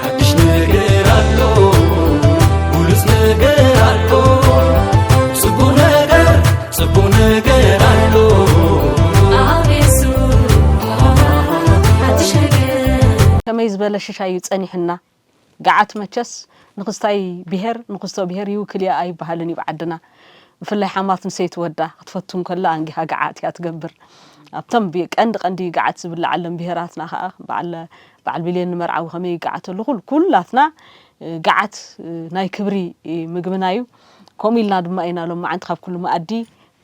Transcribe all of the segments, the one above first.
ሓድሽ ነገር ኣሎ ብሉጽ ነገር ኣሎ ጽቡቕ ነገር ጽቡቕ ነገር ኣሎ ኣብ የሱስ ሓድሽ ነገር ከመይ ዝበለ ሽሻይ እዩ ጸኒሑና ገዓት መቸስ ንክስታይ ብሄር ንክስቶ ብሄር ይውክል እያ ኣይበሃልን እዩ ኣብ ዓድና ብፍላይ ሓማት ንሰይቲ ወዳ ክትፈቱ እንከላ ኣንጊሃ ገዓት እያ ትገብር ኣብቶም ብ- ቀንዲ ቀንዲ ገዓት ዝብለዓሎም ብሄራትና ከዓ በዓል በዓል ቢሌን ንመርዓዊ ከመይ ይገዓተሉ ኩሉ ኩላትና ገዓት ናይ ክብሪ ምግብና እዩ ከምኡ ኢልና ድማ ኢና ሎመዓንቲ ካብ ኩሉ መኣዲ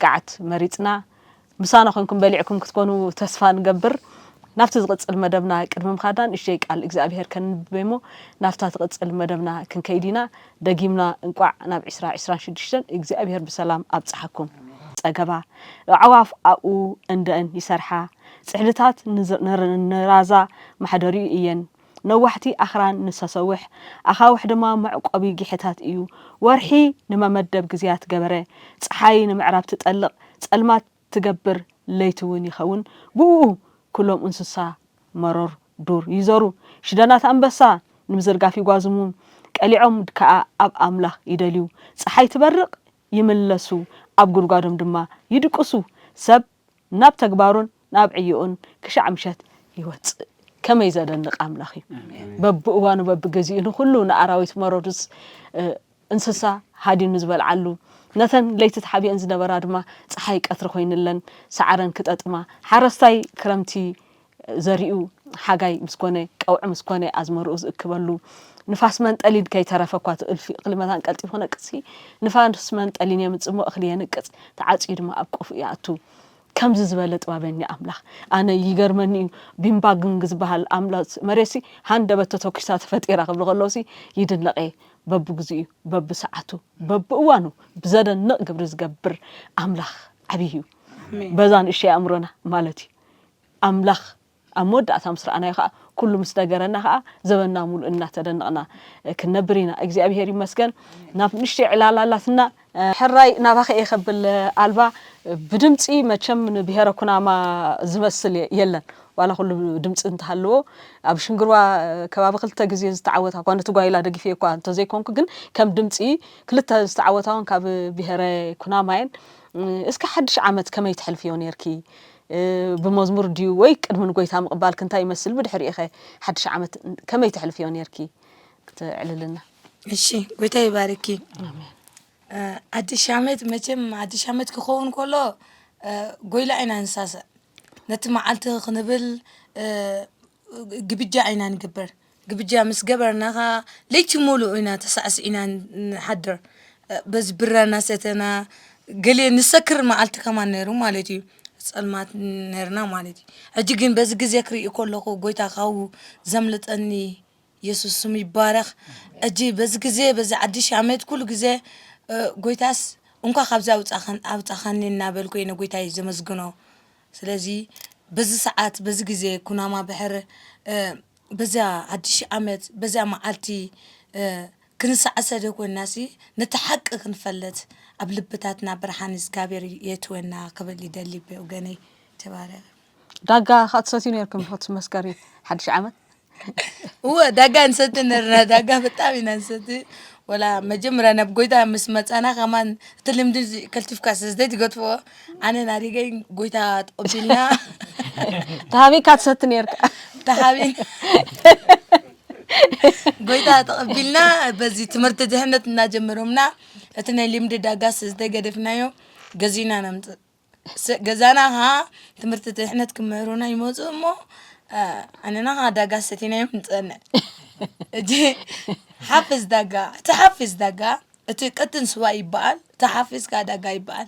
ገዓት መሪጽና ምሳና ኮንኩም በሊዕኩም ክትኮኑ ተስፋ ንገብር ናብቲ ዝቕጽል መደብና ቅድሚ ምኻድና ንእሽተይ ቃል እግዚኣብሄር ከንብብ እሞ ናብታ ትቕጽል መደብና ክንከይድ ኢና ደጊምና እንቋዕ ናብ ዕስራ ዕስራን ሽዱሽተን እግዚኣብሄር ብሰላም ኣብጽሓኩም። ጸገባ ኣዕዋፍ ኣብኡ እንደን ይሰርሓ፣ ጽሕድታት ንራዛ ማሕደሪኡ እየን፣ ነዋሕቲ ኣኽራን ንሰሰውሕ ኣኻውሕ ድማ መዕቆቢ ጊሐታት እዩ፣ ወርሒ ንመመደብ ግዜያት ገበረ፣ ጸሓይ ንምዕራብ ትጠልቕ፣ ጸልማት ትገብር ለይቲ ውን ይከውን ብኡኡ ኩሎም እንስሳ መሮር ዱር ይዞሩ ሽደናት ኣንበሳ ንምዝርጋፍ ይጓዝሙ ቀሊዖም ድካኣ ኣብ ኣምላክ ይደልዩ ጸሓይ ትበርቅ ይምለሱ ኣብ ጉድጓዶም ድማ ይድቅሱ ሰብ ናብ ተግባሩን ናብ ዕዮኡን ክሻዕ ምሸት ይወጽእ ከመይ ዘደንቅ ኣምላክ እዩ በብእዋኑ በብግዚኡ ንኩሉ ንኣራዊት መሮርስ እንስሳ ሃዲኑ ዝበልዓሉ፣ ነተን ለይቲ ተሓቢኤን ዝነበራ ድማ ጸሓይ ቀትሪ ኮይንለን ሳዕረን ክጠጥማ፣ ሓረስታይ ክረምቲ ዘሪኡ ሓጋይ ምስ ኮነ፣ ቀውዒ ምስ ኮነ ኣዝመርኡ ዝእክበሉ፣ ንፋስ መንጠሊን ከይተረፈ እኳ እቲ እልፊ እኽሊ መታን ቀልጢፉ ክነቅጽሲ ንፋስ መንጠሊን የምጽእሞ እኽሊ የንቅጽ፣ ተዓጽዩ ድማ ኣብ ቆፎኡ ይኣቱ። ከምዚ ዝበለ ጥባበኛ ኣምላኽ ኣነ ይገርመኒ እዩ ቢምባ ግንግ ዝበሃል ኣምላኽ መሬሲ ሃንደበት ተተኪሳ ተፈጢራ ክብሉ ከለውሲ ይድነቕ እየ በብግዚኡ በብሰዓቱ በብእዋኑ ብዘደንቕ ግብሪ ዝገብር ኣምላኽ ዓብይ እዩ በዛ ንእሽተይ ኣእምሮና ማለት እዩ ኣምላኽ ኣብ መወዳእታ ምስ ረኣናዮ ከኣ ኩሉ ምስ ነገረና ከኣ ዘበንና ሙሉእ እናተደነቕና ክንነብር ኢና። እግዚኣብሄር ይመስገን ናብ ንእሽተይ ዕላል ኣላትና። ሕራይ ናባኺ እየ ከብል ኣልባ ብድምጺ መቸም ንብሄረ ኩናማ ዝመስል የለን ዋላ ኩሉ ድምጺ እንተሃለዎ ኣብ ሽንግርዋ ከባቢ ክልተ ግዜ ዝተዓወታ እኳ ነቲ ጓይላ ደጊፈ እኳ እንተዘይኮንኩ ግን ከም ድምጺ ክልተ ዝተዓወታ እውን ካብ ብሄረ ኩናማ እየን እስከ ሓድሽ ዓመት ከመይ ተሕልፍዮ ኔርኪ ብመዝሙር ድዩ ወይ ቅድሚ ንጐይታ ምቕባልኪ እንታይ ይመስል ብድሕሪኡኸ ሓድሽ ዓመት ከመይ ተሕልፍዮ ኔርኪ ክተዕልልና። እሺ ጎይታ ይባርኪ ሓድሽ ዓመት መቸም ሓድሽ ዓመት ክኸውን ከሎ ጎይላ ኢና ንሳሰዕ ነቲ መዓልቲ ክንብል ግብጃ ኢና ንግበር። ግብጃ ምስ ገበርና ከኣ ለይቲ ምሉእ ኢና ተሳዕሲዕና ንሓድር። በዚ ብራ እናሰተና ገለ ንሰክር መዓልቲ ከማን ነይሩ ማለት እዩ። ጸልማት ነይርና ማለት እዩ። ሕጂ ግን በዚ ግዜ ክርኢ ከለኹ ጎይታ ካብኡ ዘምልጠኒ የሱስ ስሙ ይባረኽ። ሕጂ በዚ ግዜ በዚ ሓድሽ ዓመት ኩሉ ግዜ ጎይታስ እንኳ ካብዚ ኣውጻኸን ኣውጻኻኒ እናበልኩ እየ ንጎይታይ ዘመስግኖ። ስለዚ በዚ ሰዓት በዚ ግዜ ኩናማ ብሕር በዚያ ሓድሽ ሺህ ዓመት በዚያ መዓልቲ ክንሳዕሰ ደኮናሲ ነቲ ሓቂ ክንፈለት ኣብ ልብታትና ብርሓን እዝጋብሔር የእትወና ክብል ይደሊ ብወገነይ ተባረክ ዳጋ ካትሰትዩ ነርኩም ሆት መስከሪ ሓድሽ ዓመት እወ ዳጋ ንሰቲ ነርና ዳጋ ብጣዕሚ ኢና ንሰቲ ወላ መጀመርያ ናብ ጎይታ ምስ መፃና ከማን እቲ ልምዲ እዚ ከልቲፍካ ስለዘይ ትገድፎ ኣነ ናሪገይ ጎይታ ተቐቢልና ተሃቢካ ትሰቲ ነርካ ተሃቢን ጎይታ ተቐቢልና በዚ ትምህርቲ ድሕነት እናጀመሮምና እቲ ናይ ልምዲ ዳጋ ስለዘይገደፍናዮ ገዚእና ነምፅእ ገዛና ከኣ ትምህርቲ ድሕነት ክምህሩና ይመፁ እሞ ኣነና ከዓ ዳጋ ሰቲናዮም ንፀንዕ እቲ ሓፍዝ ዳጋ እቲ ሓፍዝ ዳጋ እቲ ቀጥን ስዋ ይበሃል እቲ ሓፍዝ ከዓ ዳጋ ይበሃል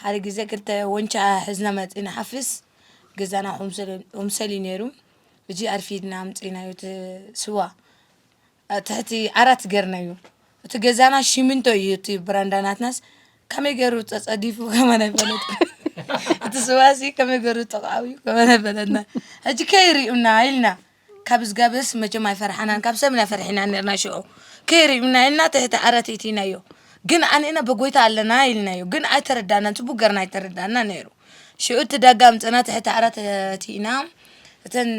ሓደ ግዜ ክልተ ወንጫ ሕዝና መፂና ሓፍዝ ገዛና ክምሰል እዩ ነይሩ እዚ ኣርፊድና ኣምፂእናዮ እቲ ስዋ ኣብ ትሕቲ ዓራት ገርናዮ እቲ ገዛና ሽሚንቶ እዩ እቲ ብራንዳ ናትናስ ከመይ ገይሩ ፀፀዲፉ ከመን ኣይፈለጥ እቲ ስዋሲ ከመይ ገይሩ ጥቕዓው እዩ ከመን ኣይፈለጥና ሕጂ ከይርዩና ኢልና ካብ ዝጋበስ መቸም ኣይፈርሓናን ካብ ሰብና ፈርሒና ነርና ሽዑ ከይርዩና ኢልና ትሕቲ ዓረት እትኢናዮ ግን ኣንና በጎይታ ኣለና ኢልናዮ ግን ኣይተረዳናን ፅቡቅ ገርና ኣይተረዳና ነይሩ ሽዑ እቲ ዳጋ ኣምፅና ትሕቲ ዓራት እትኢና እተን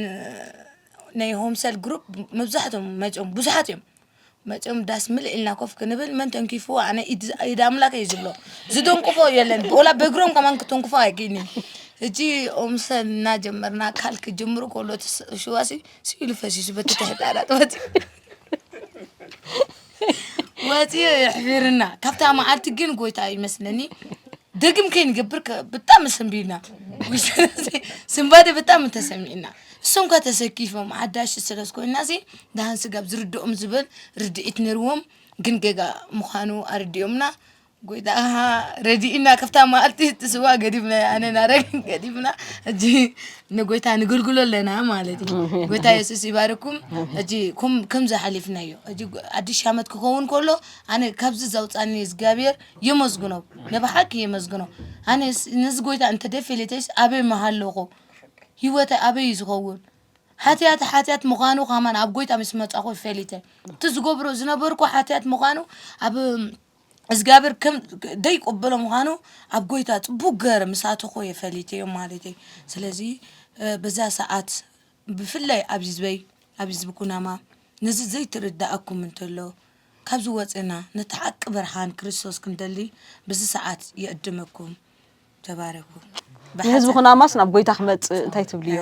ናይ ሆምሰል ግሩፕ መብዛሕቶም መፅኦም ብዙሓት እዮም መፅኦም ዳስ ምልእ ኢልና ኮፍ ክንብል መን ተንኪፍዎ ኣነ ኢድ ኢድ ኣምላክ እዩ ዝብሎ ዝደንቅፎ የለን ወላ በእግሮም ከማን ክትንክፎ ኣይክእልን እዩ እጂ ኦምሰል እናጀመርና ካልክ ጀምሩ ከሎ እቲ ስ- ሽዋሲ ስኢሉ ፈሲሱ በቲ ተሕጣላት ወፂኡ ወፂኦ የሕፊርና ካብታ መዓልቲ ግን ጎይታ ይመስለኒ ደግም ከይንገብር ብጣዕሚ ሰንቢድና ስንባደ ብጣዕሚ ተሰሚዕና እሶም ከ ተሰኪፎም ሓዳሽ ስለ ኮይና ሲ ደሃን ስጋብ ዝርድኦም ዝበል ርድኢት ነርዎም ግን ገጋ ምዃኑ ኣረዲኦምና ጎይታ ረዲእና ክፍታ መዓልቲ ትስዋ ገዲፍና ኣነ ናረግን ገዲፍና እጂ ንጎይታ ንግልግሎ ኣለና ማለት እዩ ጎይታ የሱስ ይባርኩም እጂ ከምዚ ሓሊፍናዮ እጂ ኣዲሽ ዓመት ክኸውን ከሎ ኣነ ካብዚ ዘውፃኒ እግዚኣብሔር የመስግኖ ንብሓቂ የመስግኖ ኣነ ነዚ ጎይታ እንተደፊልተስ ኣበይ መሃለኹ ህይወተ ኣበይ እዩ ዝኸውን ሓትያት ሓትያት ምዃኑ ከማን ኣብ ጎይታ ምስ መፃኹ ፈሊተ እቲ ዝገብሮ ዝነበርኩ ሓትያት ምዃኑ ኣብ እዝጋብሔር ከም ደይቁብሎ ምዃኑ ኣብ ጎይታ ጽቡቅ ገረ ምስ ኣተኹ እየ ፈሊተዮ ማለተይ ስለዚ በዛ ሰዓት ብፍላይ ኣብዚ ዝበይ ኣብዚ ዝብ ኩናማ ነዚ ዘይትርድኣኩም እንተሎ ካብዚ ወፅእና ነቲ ሓቂ ብርሃን ክርስቶስ ክንደሊ ብዚ ሰዓት ይዕድመኩም ተባረኩ ንህዝቢ ኩናማስ ናብ ጎይታ ክመፅእ እንታይ ትብልዮ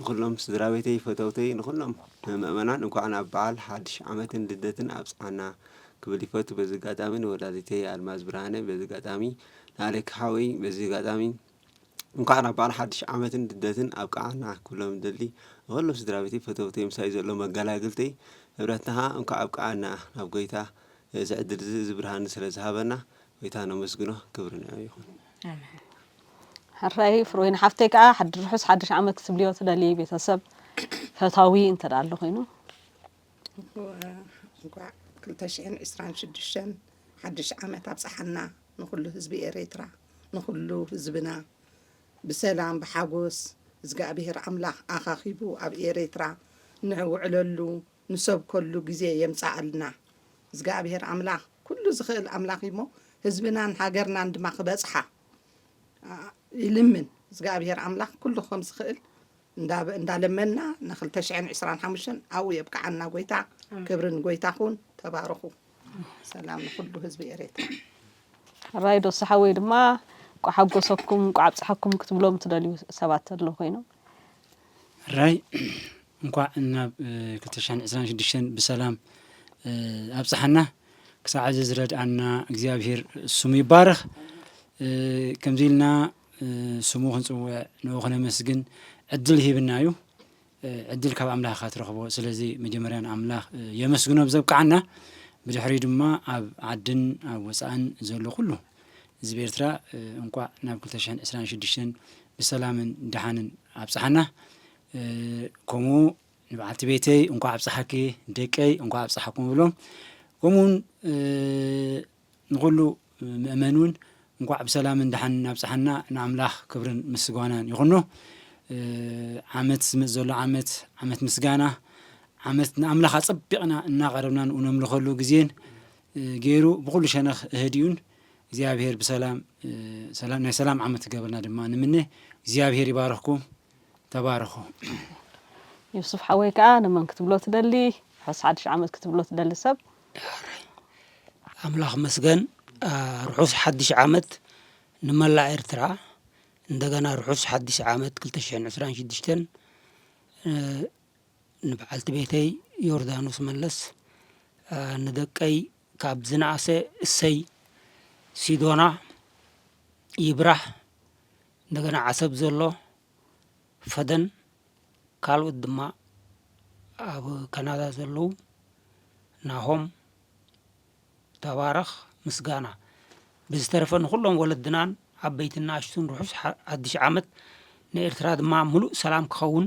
ንኹሎም ስድራቤተይ ፈተውተይ ንኹሎም ምእመናን እንኳዕ ናብ በዓል ሓድሽ ዓመትን ልደትን ኣብጽሓና ክብል ይፈቱ በዚ ኣጋጣሚ ንወላዲተይ ኣልማዝ ብርሃነ በዚ ኣጋጣሚ ንኣሌክ ሓወይ በዚ ኣጋጣሚ እንኳዕ ናብ በዓል ሓድሽ ዓመትን ልደትን ኣብቅዓና ክብሎም ደሊ ንኹሎም ስድራቤተይ ፈተውተይ ምሳይ ዘሎ መጋላግልተይ ህብረትና ኸኣ እንኳዕ ኣብቅዓና ናብ ጎይታ እዚ ዕድል እዚ እዚ ብርሃን ስለ ዝሃበና ጎይታ ነመስግኖ ክብሪ ንዕኡ ይኹን። ሕራይ ፍሮይን ሓፍተይ ከዓ ሓዲ ርሑስ ሓድሽ ዓመት ክትብልዮ ትደሊ ቤተሰብ ፈታዊ እንተ ኣሎ ኮይኑ እንኳዕ ክልተ ሽሕን ዕስራን ሽዱሽተን ሓድሽ ዓመት ኣብፀሓና ንኩሉ ህዝቢ ኤሬትራ ንኩሉ ህዝብና ብሰላም ብሓጎስ እግዚኣብሔር ኣምላኽ ኣኻኺቡ ኣብ ኤሬትራ ንዕውዕለሉ ንሰብ ከሉ ግዜ የምጻኣልና እዝጋኣብሄር ኣምላክ ኩሉ ዝክእል ኣምላክ እዩ እሞ ህዝብናን ሃገርናን ድማ ክበጽሓ ይልምን እዝጋኣብሄር ኣምላክ ኩሉ ከም ዝክእል እንዳለመና ን ክልተ ሽሕን ዕስራን ሓሙሽተን ኣብኡ የብቅዓና ጎይታ ክብሪ ንጎይታ ኩን ተባረኩ ሰላም ንኩሉ ህዝቢ ኤሬትራ። ሕራይ ዶሱ ሓወይ ድማ እንቋዕ ሓጎሰኩም እንቋዕ ኣብጽሓኩም ክትብሎም ትደልዩ ሰባት ኣለዉ ኮይኖም። ሕራይ እንኳዕ ናብ ክልተ ሽሕን ዕስራን ሽዱሽተን ብሰላም ኣብፀሐና ክሳዕ እዚ ዝረድኣና እግዚኣብሄር ስሙ ይባረኽ ከምዚ ኢልና ስሙ ክንፅውዕ ንኡ ክነመስግን ዕድል ሂብና እዩ ዕድል ካብ ኣምላኽ ኢኻ ትረኽቦ ስለዚ መጀመርያ ንኣምላኽ የመስግኖ ብዘብቅዓና ብድሕሪ ድማ ኣብ ዓድን ኣብ ወፃእን ዘሎ ኩሉ ህዝቢ ኤርትራ እንቋዕ ናብ ክልተ ሽሕን ዕስራን ሽዱሽተን ብሰላምን ደሓንን ኣብፀሓና ከምኡ ንበዓልቲ ቤተይ እንኳዕ ኣብፀሓኪ ደቀይ እንኳዕ ኣብፀሓኩም ብሎም ከምኡውን ንኩሉ ምእመን እውን እንኳዕ ብሰላምን ድሓን ኣብፀሓና ንኣምላኽ ክብርን ምስጓናን ይኹኖ ዓመት ዝመፅ ዘሎ ዓመት ዓመት ምስጋና ዓመት ንኣምላኽ ኣፀቢቕና እናቐረብና ንኡ ነምልኸሉ ግዜን ገይሩ ብኩሉ ሸነኽ እህዲኡን እግዚኣብሄር ብሰላም ናይ ሰላም ዓመት ክገብርና ድማ ንምነ እግዚኣብሄር ይባረኽኩም ተባረኹ። ዮሱፍ ሓወይ ከኣ ንመን ክትብሎ ትደሊ ርሑስ ሓድሽ ዓመት ክትብሎ ትደሊ ሰብ ኣምላኽ መስገን ርሑስ ሓድሽ ዓመት ንመላእ ኤርትራ እንደገና ርሑስ ሓድሽ ዓመት ክልተ ሽሕን ዕስራን ሽዱሽተን ንበዓልቲ ቤተይ ዮርዳኖስ መለስ ንደቀይ ካብ ዝነኣሰ እሰይ ሲዶና ይብራህ እንደገና ዓሰብ ዘሎ ፈደን ካልኦት ድማ ኣብ ካናዳ ዘለዉ ናሆም ተባረኽ ምስጋና ብዝተረፈ ንኹሎም ወለድናን ዓበይትን ንኣሽቱን ርሑስ ሓ- ሓድሽ ዓመት ንኤርትራ ድማ ምሉእ ሰላም ክኸውን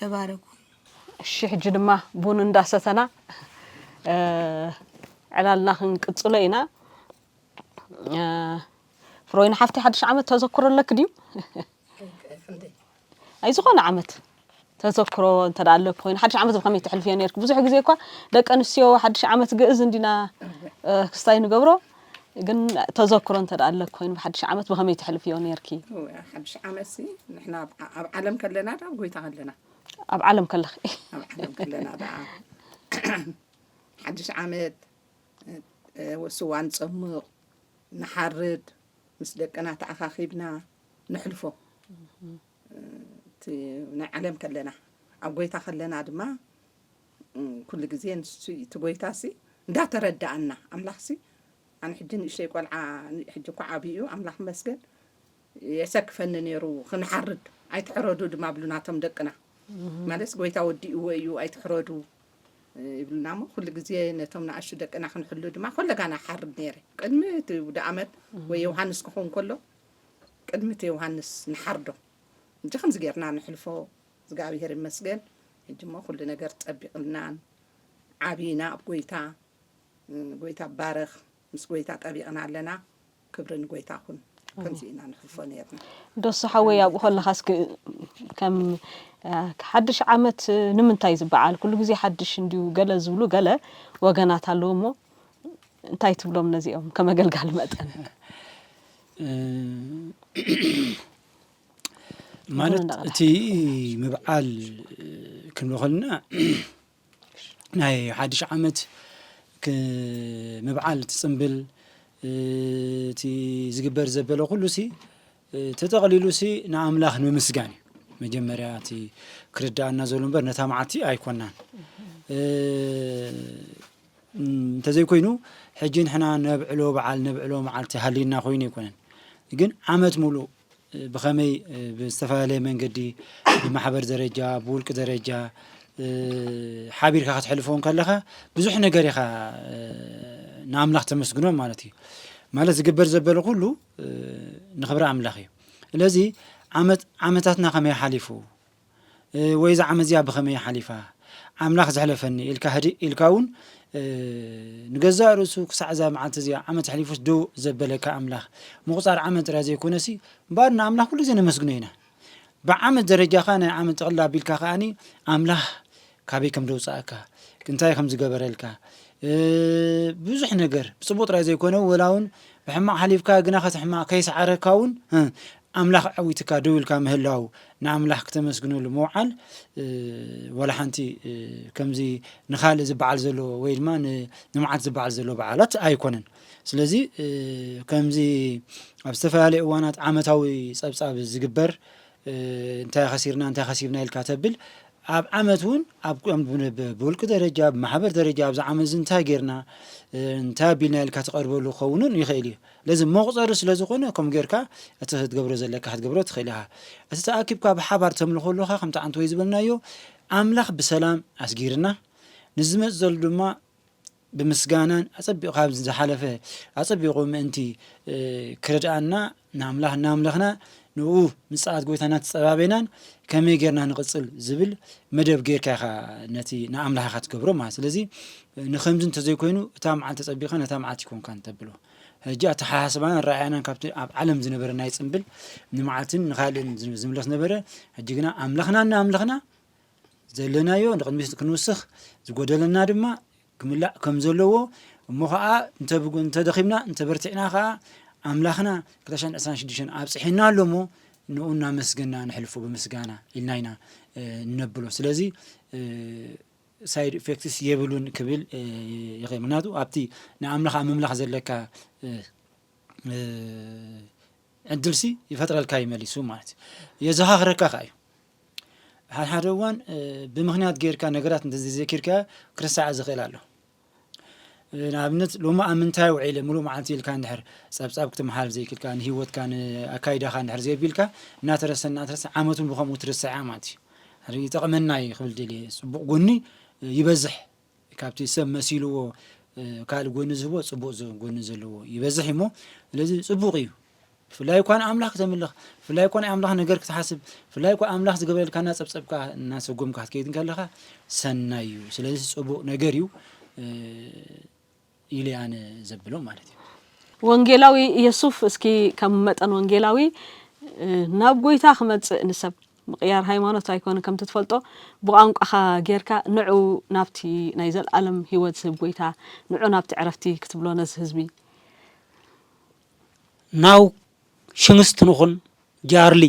ተባረኩ። እሺ ሕጂ ድማ ቡን እንዳ ሰተና ዕላልና ክንቅጽሎ ኢና። ፍሮይን ሓፍተይ ሓድሽ ዓመት ተዘክሮ ኣለኪ ድዩ? ኣይ ዝኾነ ዓመት ተዘክሮ እንተ ኣለኪ ኮይኑ ሓድሽ ዓመት ብኸመይ ተሕልፍዮ ነርኪ? ብዙሕ ግዜ እኳ ደቂ ኣንስትዮ ሓድሽ ዓመት ግእዝ እንዲና ክስታይ ንገብሮ ግን ተዘክሮ እንተ ኣለክ ኮይኑ ብሓድሽ ዓመት ብኸመይ ትሕልፍዮ ነርኪ ሓድሽ ዓመት ንሕና ኣብ ዓለም ከለና ዳ ኣብ ጎይታ ከለና ኣብ ዓለም ከለኺ ኣብ ዓለም ከለና ዳ ሓድሽ ዓመት ስዋ ንፀምቕ ንሓርድ ምስ ደቅና ተኣኻኺብና ንሕልፎ እቲ ናይ ዓለም ከለና ኣብ ጎይታ ከለና ድማ ኩሉ ግዜ ንሱ እዩ እቲ ጎይታሲ እንዳተረዳኣና ኣምላኽሲ ኣነ ሕጂ ንእሽተይ ቆልዓ ሕጂ እኳ ዓብዩ ኣምላኽ መስገን የሰክፈኒ ነይሩ ክንሓርድ ኣይትሕረዱ ድማ ብሉና እቶም ደቅና ማለት ጎይታ ወዲእዎ እዩ ኣይትሕረዱ ይብሉና እሞ ኩሉ ግዜ ነቶም ንኣሹ ደቅና ክንሕሉ ድማ ኮለጋና ሓርድ ነይረ ቅድሚ እቲ ውደ ኣመት ወይ ዮሃንስ ክኸውን ከሎ ቅድሚ እቲ ዮሃንስ ንሓርዶ እጂ ከምዚ ጌርና ንሕልፎ እዝጋቢሄር ይመስገን ሕጂ እሞ ኩሉ ነገር ጸቢቅልና ዓቢና ኣብ ጎይታ ጎይታ ባረኽ ምስ ጎይታ ጠቢቅና ኣለና ክብሪ ንጎይታ ኩን ከምዚ ኢና ንሕልፎ ነርና። ዶሱ ሓወይ ኣብኡ ከለኻስ ከም ሓድሽ ዓመት ንምንታይ ዝበዓል ኩሉ ግዜ ሓድሽ እንድዩ ገለ ዝብሉ ገለ ወገናት ኣለዉ እሞ እንታይ ትብሎም ነዚኦም ከመገልጋሊ መጠን ማለት እቲ ምብዓል ክንብ ከልና ናይ ሓድሽ ዓመት ምብዓል ትፅምብል እቲ ዝግበር ዘበለ ኩሉ ሲ ተጠቕሊሉ ሲ ንኣምላኽ ንምስጋን እዩ መጀመርያ እቲ ክርዳኣና ዘሉ እምበር ነታ መዓልቲ ኣይኮናን እንተዘይኮይኑ ሕጂ ንሕና ነብዕሎ በዓል ነብዕሎ መዓልቲ ሃልና ኮይኑ ኣይኮነን ግን ዓመት ምሉእ ብኸመይ ብዝተፈላለየ መንገዲ ብማሕበር ደረጃ ብውልቂ ደረጃ ሓቢርካ ክትሕልፎ ከለኻ ብዙሕ ነገር ኢኻ ንኣምላኽ ተመስግኖ ማለት እዩ ማለት ዝግበር ዘበለ ኩሉ ንኽብሪ ኣምላኽ እዩ ስለዚ ዓመታትና ከመይ ሓሊፉ ወይ እዛ ዓመት እዚኣ ብኸመይ እያ ሓሊፋ ኣምላኽ ዘሕለፈኒ ኢልካ ህድእ ኢልካ እውን ንገዛእ ርእሱ ክሳዕ እዛ መዓልቲ እዚኣ ዓመት ኣሕሊፉስ ዶ ዘበለካ ኣምላኽ ምቑፃር ዓመት ጥራይ ዘይኮነሲ እምበኣር ንኣምላኽ ኩሉ ግዜ ነመስግኖ ኢና ብዓመት ደረጃኻ ናይ ዓመት ጠቕላ ኣቢልካ ከዓኒ ኣምላኽ ካበይ ከም ዘውጻኣካ እንታይ ከም ዝገበረልካ ብዙሕ ነገር ብጽቡቅ ጥራይ ዘይኮነ ወላ ውን ብሕማቅ ሓሊፍካ ግናኸ እቲ ሕማቅ ከይሰዓረካ ውን ኣምላኽ ኣዐዊትካ ደው ኢልካ ምህላው ንኣምላኽ ክተመስግነሉ ምውዓል ወላ ሓንቲ ከምዚ ንኻልእ ዝበዓል ዘሎ ወይ ድማ ንመዓት ዝበዓል ዘሎ በዓላት ኣይኮነን ስለዚ ከምዚ ኣብ ዝተፈላለየ እዋናት ዓመታዊ ጸብጻብ ዝግበር እንታይ ኣኸሲርና እንታይ ከሲብና ኢልካ ተብል ኣብ ዓመት እውን ኣብ ብውልቂ ደረጃ ብማሕበር ደረጃ ኣብዚ ዓመት እዚ እንታይ ጌርና እንታይ ኣቢልና ኢልካ ትቐርበሉ ክኸውንን ይኽእል እዩ ለዚ መቑፀሪ ስለ ዝኾነ ከምኡ ጌርካ እቲ ክትገብሮ ዘለካ ክትገብሮ ትኽእል ኢኻ እቲ ተኣኪብካ ብሓባር ተምልኾ ኣለኻ ከምቲ ዓንተ ወይ ዝበልናዮ ኣምላኽ ብሰላም ኣስጊርና ንዝመፅ ዘሎ ድማ ብምስጋናን ኣጸቢቑ ካብ ዝሓለፈ ኣጸቢቑ ምእንቲ ክረድኣና ንኣምላኽ እናምለኽና ንኡ ምጽኣት ጎይታ እናተጸባቤናን ከመይ ጌርና ንቕጽል ዝብል መደብ ጌርካ ኢኻ ነቲ ንኣምላኽ ኢኻ ትገብሮ ማለት ስለዚ ንከምዚ እንተዘይኮይኑ እታ መዓልቲ ተጸቢኻ ነታ መዓልቲ ይኮንካ እንተብሎ ሕጂ ኣተሓሳስባና ኣረኣያናን ካብቲ ኣብ ዓለም ዝነበረ ናይ ጽምብል ንመዓልትን ንካልእን ዝምለስ ነበረ ሕጂ ግና ኣምላኽና እናኣምለኽና ዘለናዮ ንቕድሚት ክንውስኽ፣ ዝጎደለና ድማ ክምላእ ከም ዘለዎ፣ እሞ ኸኣ እንተ እንተ ደኺምና እንተ በርቲዕና ኸኣ ኣምላኽና ክልተ ሽሕን ዕስራን ሽዱሽተን ኣብጺሑና ኣሎ እሞ ንኡ እናመስገና ንሕልፎ ብምስጋና ኢልና ኢና እነብሎ ስለዚ ሳይድ ኢፌክትስ የብሉን ክብል ይኽእል ምክንያቱ ኣብቲ ንኣምላኽ ኣብ ምምላኽ ዘለካ ዕድልሲ ይፈጥረልካ ይመሊሱ ማለት እዩ የዘኻኽረካ ከ እዩ ሓድሓደ እዋን ብምኽንያት ጌርካ ነገራት እንተዘይዘኪርካዮ ክርሳዕ ዝኽእል ኣሎ ንኣብነት ሎሚ ኣብ ምንታይ ውዒለ ምሉእ መዓልቲ ኢልካ እንድሕር ፀብፃብ ክትመሓል ዘይክልካ ንሂወትካ ንኣካይዳኻ እንድሕር ዘየቢልካ እናተረሰ እናተረሰ ዓመት እውን ብከምኡ ትርሰዓ ማለት እዩ ይጠቕመና እዩ ክብል ደልየ ፅቡቕ ጎኒ ይበዝሕ ካብቲ ሰብ መሲልዎ ካልእ ጎኒ ዝህቦ ጽቡቅ ጎኒ ዘለዎ ይበዝሕ እሞ ስለዚ ጽቡቅ እዩ ብፍላይ እኳ ንኣምላኽ ክተምልኽ ብፍላይ እኳ ናይ ኣምላኽ ነገር ክትሓስብ ብፍላይ እኳ ኣምላኽ ዝገበረልካ እናጸብጸብካ እናሰጎምካ ክትከይድ ከለኻ ሰናይ እዩ ስለዚ ጽቡቅ ነገር እዩ ኢሊ ኣነ ዘብሎ ማለት እዩ። ወንጌላዊ የሱፍ እስኪ ከም መጠን ወንጌላዊ ናብ ጎይታ ክመጽእ ንሰብ ምቕያር ሃይማኖት ኣይኮነ ከምቲ ትፈልጦ ብቋንቋኻ ጌርካ ንዑ ናብቲ ናይ ዘልኣለም ህይወት ዝህብ ጎይታ ንዑ ናብቲ ዕረፍቲ ክትብሎ ነዚ ህዝቢ ናው ሽንስት ንኹን ጃርሊ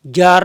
ጃር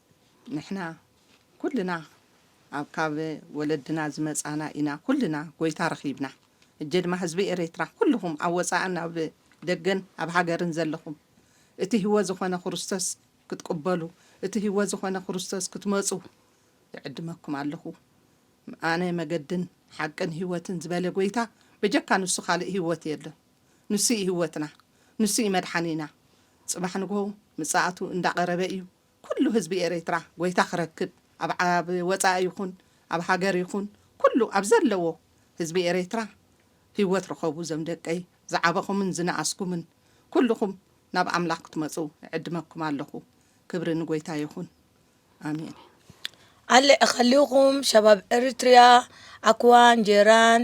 ንሕና ኩልና ኣብ ካብ ወለድና ዝመጻና ኢና ኩልና ጎይታ ረኺብና ህጀ ድማ ህዝቢ ኤሬትራ ኩሉኹም ኣብ ወጻእን ኣብ ደገን ኣብ ሃገርን ዘለኹም እቲ ህወ ዝኾነ ኩሩስተስ ክትቅበሉ እቲ ህወ ዝኾነ ኩሩስተስ ክትመጹ ይዕድመኩም ኣለኹ ኣነ መገድን ሓቅን ህወትን ዝበለ ጎይታ በጀካ ንሱ ካልእ ህወት የሎን ንሱ እዩ ህወትና ንሱ እዩ መድሓኒና ጽባሕ ንግሆ ምጻኣቱ እንዳቀረበ እዩ ኩሉ ህዝቢ ኤሬትራ ጎይታ ክረክብ ኣብ ኣብ ወጻኢ ይኹን ኣብ ሃገር ይኹን ኩሉ ኣብ ዘለዎ ህዝቢ ኤሬትራ ሂወት ርኸቡ ዘም ደቀይ ዝዓበኹምን ዝነኣስኩምን ኩሉኹም ናብ ኣምላኽ ክትመጹ እዕድመኩም ኣለኹ ክብሪ ንጎይታ ይኹን ኣሜን። ኣለ እኸሊኹም ሸባብ ኤሪትሪያ ኣኩዋን ጄራን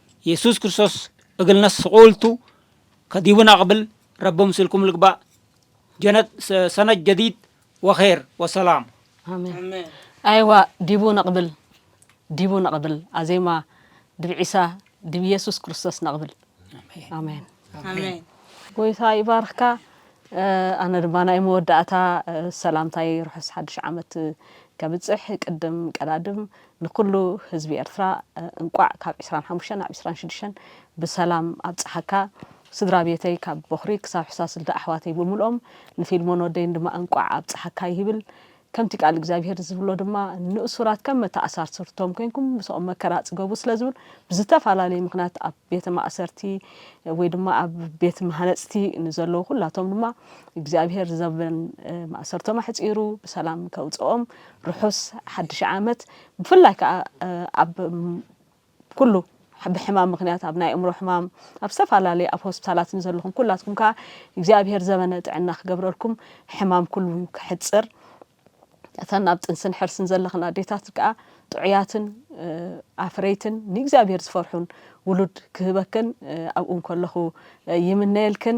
የሱስ ክርስቶስ እግልነስ ስቁልቱ ከዲቡና ቅብል ረቢ ምስልኩም ልግባእ ጀነት ሰነት ጀዲድ ወኼር ወሰላም። ኣሜን ኣይዋ ዲቡ ነቅብል ዲቡ ነቅብል ኣዜማ ድብ ዒሳ ድብ የሱስ ክርስቶስ ነቅብል ኣሜን ኣሜን ጎይታ ይባርኽካ። ኣነ ድማ ናይ መወዳእታ ሰላምታይ ርሑስ ሓድሽ ዓመት ከብፅሕ ቅድም ቀዳድም ንኩሉ ህዝቢ ኤርትራ እንቋዕ ካብ ዕስራን ሓሙሽተን ናብ ዕስራን ሽዱሽተን ብሰላም ኣብጽሓካ ስድራ ቤተይ ካብ ቦኽሪ ክሳብ ሕሳስልቲ ኣሕዋተይ ብምልኦም ንፊልሞን ወደይን ድማ እንቋዕ ኣብጽሓካ ይብል ከምቲ ቃል እግዚኣብሄር ዝብሎ ድማ ንእሱራት ከም መተኣሳርስርቶም ኮይንኩም ምሰኦም መከራ ጽገቡ ስለ ዝብል ብዝተፈላለየ ምኽንያት ኣብ ቤተ ማእሰርቲ ወይ ድማ ኣብ ቤት መሃነጽቲ ንዘለዉ ኩላቶም ድማ እግዚኣብሄር ዘበን ማእሰርቶም ኣሕጺሩ ብሰላም ከውጽኦም ርሑስ ሓድሽ ዓመት ብፍላይ ከኣ ኣብ ኩሉ ብሕማም ምክንያት ኣብ ናይ ኣእምሮ ሕማም ኣብ ዝተፈላለዩ ኣብ ሆስፒታላት ንዘለኹም ኩላትኩም ከኣ እግዚኣብሄር ዘበነ ጥዕና ክገብረልኩም ሕማም ኩሉ ክሕጽር እተን ኣብ ጥንስን ሕርስን ዘለኽን ኣዴታት ከኣ ጥዑያትን ኣፍረይትን ንእግዚኣብሄር ዝፈርሑን ውሉድ ክህበክን ኣብኡ እንከለኹ ይምነየልክን